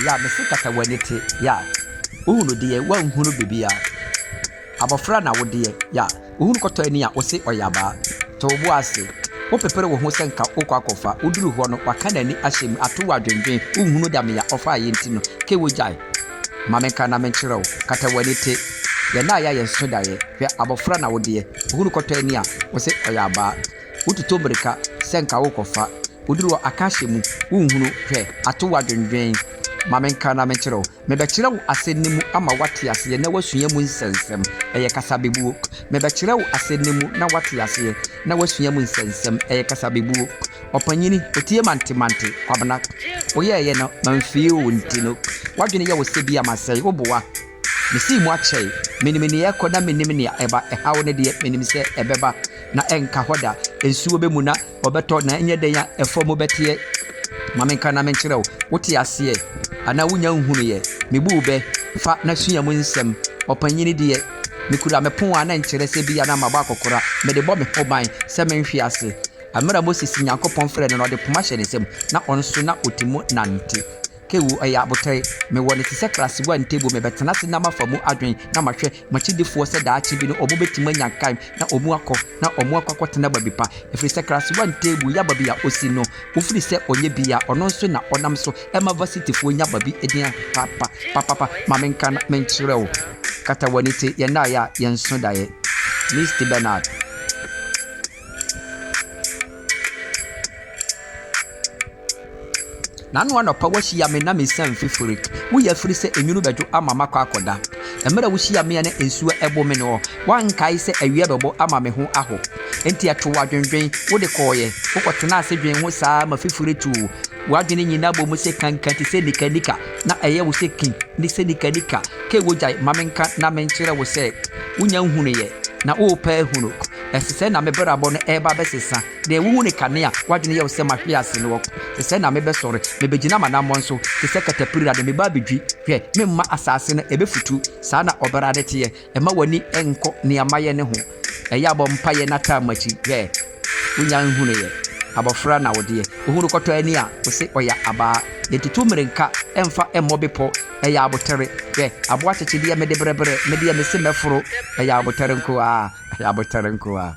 Ya mese kata w'ani te ya wohunu deɛ wanhunu bibia abɔfra na wodeɛ ya wohunu kɔtɔ ani a wose ɔyɛ abaa to wo bo ase wopepere wo ho sɛ nka wokɔ akɔfa woduru hɔ no waka n'ani ahyɛ mu ato wo adwendwen wonhunu dame a ɔfaeɛ nti no ke wogyae ma menka na menkyerɛ wo kata w'ani te yɛn a yɛayɛ nso daeɛ hwɛ abɔfra na wodeɛ wohunu kɔtɔ ani a wose ɔyɛ abaa Wototo mmirika sɛ nka worekɔfa. Woduru hɔ a, ka ahyɛ mu, wonhunu. Hwɛ, ato wo adwendwen. Ma menka na menkyerɛ wo. Mebɛkyerɛ wo asɛm no mu ama woate aseɛ na woasua mu nsɛnsɛm. Ɛyɛ kasabebuo. Mebɛkyerɛ wo asɛm no mu na woate aseɛ na woasua mu nsɛnsɛm. Ɛyɛ kasabebuo. Ɔpanyini, ɔtie mantemante. Kwabena, woyɛeɛ no, mamfee o, nti no, w'adwene yɛ wo sɛ bi a masɛe wo boa. Mesii mu akyɛe. Minim nea ɛrekɔ na minim nea ɛba. Ɛhaw no deɛ, minim sɛ ɛbɛba, na ɛrenka hɔ da. Nsuo bɛmu na wɔbɛtɔ, na ɛnyɛ dɛn a ɛfam mu bɛteɛ. Ma menka na menkyerɛ wo. Wote aseɛ? Anaa wonnya nhunuiɛ? Mebuu bɛ, Fa na sua mu nsɛm. Ɔpanyin deɛ, mekura me pon a na ɛnkyerɛ sɛ ebia na mabɔ akɔkora. Mede bɔ me ho ban sɛ menhwe ase. Bere a Moses Nyankopɔn frɛɛ no no, ɔde poma hyɛɛ ne nsam, na ɔno nso na ɔte mu nante. Kewu, ɛyɛ aboterɛ. Mewɔ no te sɛ Krasiwa Ntebu. Mebɛtena ase na mafa mu adwen na mahwɛ m'akyidifoɔ sɛ daakye bi no wɔbɛtumi anya nkaem na wɔakɔ na wɔakɔ akɔtena baabi pa. Ɛfiri sɛ Krasiwa Ntebu ya baabi a ɔsi no, ɔfiri sɛ ɔnyɛ bi a, ɔno nso na ɔnam so ma Vasityfoɔ nya baabi din a papa papapa. Ma menka na menkyerɛ wo, kata w'ani te yɛn daeɛ a yɛnso daeɛ. Misty Bernard. Nano anɔpa woahyia me na mesian fifiri Wo yɛ afiri sɛ enwunu bɛdwo ama makɔ akɔda Mmerɛ a wohyia me a na nsuo ɛbo me noɔ Woankae sɛ awia bɛbɔ ama me ho aho Enti ɛtoo adwendwen, wode kɔeɛ Wokɔtenaa ase dwen ho saa ma fifiri too W'adwene nyinaa bɔ mu sɛ kankan te sɛ nika nika Na ɛyɛ wo sɛ kin ne sɛ nika nika Kei wogyae ma menka na menkyerɛ wo sɛ Wonya nhunuiɛ na worepɛ ahunu Ɛse sɛɛ na me brabɔ no ɛɛba abɛsesa, Deɛ wohu ne kane a w'adwene yɛ wo sɛ mahwe ase no ɔko, Te sɛɛ na mebɛsɔre, mebɛgyina m'anammɔn so te sɛ katapira de meba abɛdwi, Hwɛ, memma asase no ɛbɛfutu, saa na Ɔbrade teɛ, Mma w'ani nkɔ nea mayɛ no ho, Ɛyɛ a bɔ mpaeɛ na taa m'akyi, Hwɛ, wonya nhunuiɛ, abɔfra na wodeɛ, Wohunu kɔtɔ ani a, wose ɔya abaa, Yɛntutu mmirenka mfa mmɔ bepɔ, ɛyɛ abotere. Hwɛ, aboɔ akyekyedeɛ mede berebere, me deɛ mese mɛforo, ɛyɛ abotere nko ara, ɛyɛ abotere nko ara.